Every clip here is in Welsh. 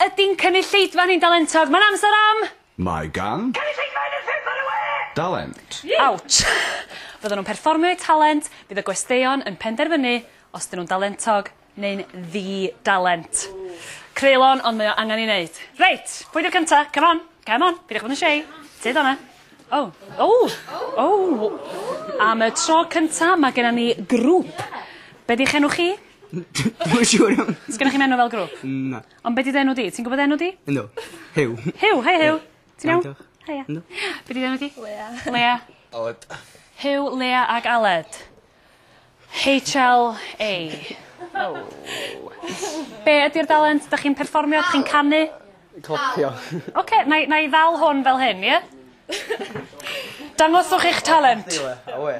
Ydi'n cynulleidfa ni'n dalentog? Mae'n amser am! Mae gan. Cynulleidfa un o'r pump ar y we! Dalent. Awch! Fyddan nhw'n perfformio eu talent, bydd y gwesteion yn penderfynu os ydyn nhw'n dalentog neu'n ddi-dalent. Creulon, ond mae o angen ei wneud. Reit, pwy di'r cynta? Come on, come on, peidiwch bod yn shy. Tyd o 'na. O! O! O! Am y tro cynta, mae genna ni grŵp. Be 'di'ch enw chi? Dwi'm yn siŵr iawn. Sgennoch chi'm enw fel grŵp? Na. Ond be' 'di dy enw di? Ti'n gwbod enw di? Yndw. Huw. Huw hei Huw. Ti'n iawn? Iawn diolch. Heia. Yndw. Be' 'di enw di? Leia. Leia. Aled. Huw Leia ag Aled. HLA. Oh. Be' ydi'r dalent? 'Dach chi'n perfformio? 'Dach chi'n canu? Clapio. Oce 'nai 'nai ddal hwn fel hyn ie? Dangoswch eich talent. Awe.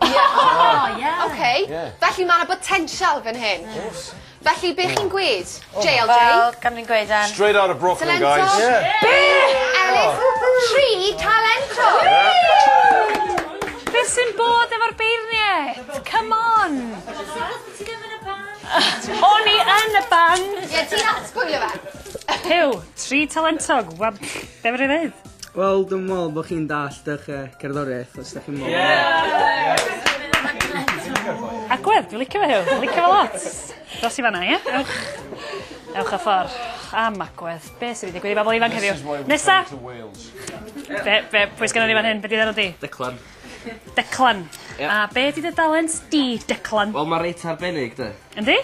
Ie o ie. Oce. Ie. Felly ma' 'na botensial fyn hyn. O's. Felly be' chi'n gwêd? Jay or Jay? Wel gan fi'n gweud yym... Straight outta Brooklyn guys. Talento. Ie. Be'? Ellis tri talento. Woo! Be' sy'n bod efo'r beirniaid? Come on! Ti ddim yn y band. O'n i yn y band! Ie ti'n arspoilio fe. Huw, tri talentog, wel be' fedrai ddeud? Wel, dwi'n meddwl bod chi'n dallt eich uh, cerddoriaeth, os ydych chi'n meddwl. Yeah! Agwedd, dwi'n licio fe hiw, dwi'n licio fe lot. Dos i fanna, ie? Ewch. Ewch a ffordd. Am agwedd, be sydd wedi digwydd i bobl ifanc heddiw? Nesa! Be, be, pwy sgan o'n i fan hyn? Be di ddarod di? Declan. Declan. Ie. A be' 'di dy dalent di, Declan? Wel ma' reit arbennig 'de. Yndi?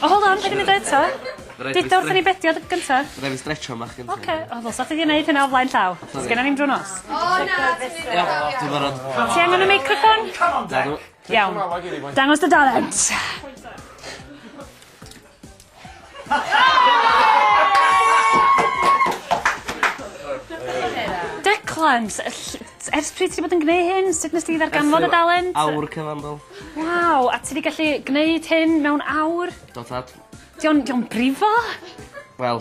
O hold on paid â mynd o eto. Ma' raid fi stre-... Duda wrthyn ni be' 'di o dy- gynta. Ma' raid fi stretsio bach gynta. Oce. O ddylsa chdi 'di neud hynna o flaen llaw. Sori. Sgennon ni'm drw'r nos. O na ti'n neud yn dda iawn. Dwi barod. Ti angen y meicroffon? Come on Dec. Nadw. Iawn. Dangos dy dalent. Declan, ers pryd ti wedi bod yn gwneud hyn? Sut nes ti ddarganfod y dalent? Awr cyfandol. Waw, a ti wedi gallu gwneud hyn mewn awr? Do tad. Dio'n dio'n brifo? Wel,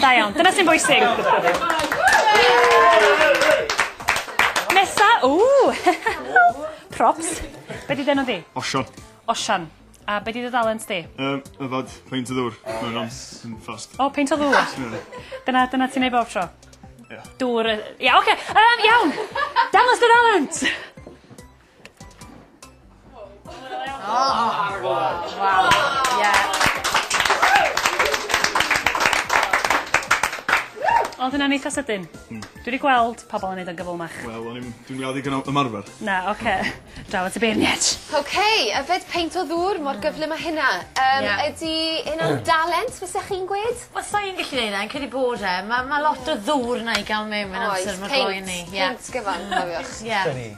Da iawn, dyna sy'n bwysig. Nesa, ww! Props. Be di denw di? Osian. Osian. A be di dy dalent di? Um, yfad, peint o ddŵr. Mae'n rhan yn fast. O, peint o ddŵr. dyna, dyna ti'n ei bob tro? Ia. Dŵr, ia, oce. Okay. Um, iawn! Dangos dy dalent! Oedd hynna'n eitha sydyn. Hmm. Dwi 'di gweld pobol yn neud o'n gyflymach. Wel o'n i'm dwi'n me'wl ddigon o ymarfer. Na oce. Draw at y beirniaid. Oce yfed peint o ddŵr mor gyflym â hynna. Yym... Ie. ...ydi hynna'n dalent fysa chi'n gwed? Wel sai'n gallu neud e yn credu bod e ma' ma' lot o ddŵr yna i ga'l mewn mewn amser ma' gloyni. Oes peint peint gyfan cofiwch. Ie. 'Da ni.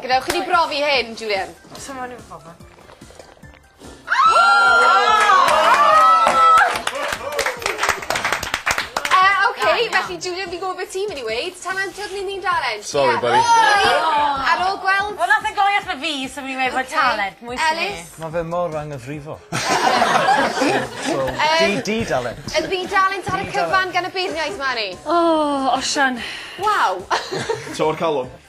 Gadewch i ni brofi hyn, Julian. Does yma ni'n ffordd. Oce, felly Julian, fi'n gwybod beth ti'n mynd i weud. Tan antod ni'n ni'n dalent. Sorry, buddy. Ar ôl gweld... Wel, nath e gloi allan fi, so fi'n mynd i weud talent. Mwy sy'n ni. Mae fe mor anghyfrifol. Di dalent. Yn ddi dalent ar y cyfan gan y beirniaid, Mari. O, Osian. Waw. Tro'r calon.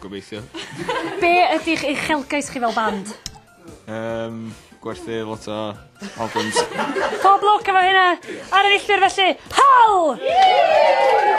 Gobeithio. Be' ydi'ch uchelgais chi fel band? Yym gwerthu lot o albums. Pob lwc efo hynna! Ar y filltir felly. Hal!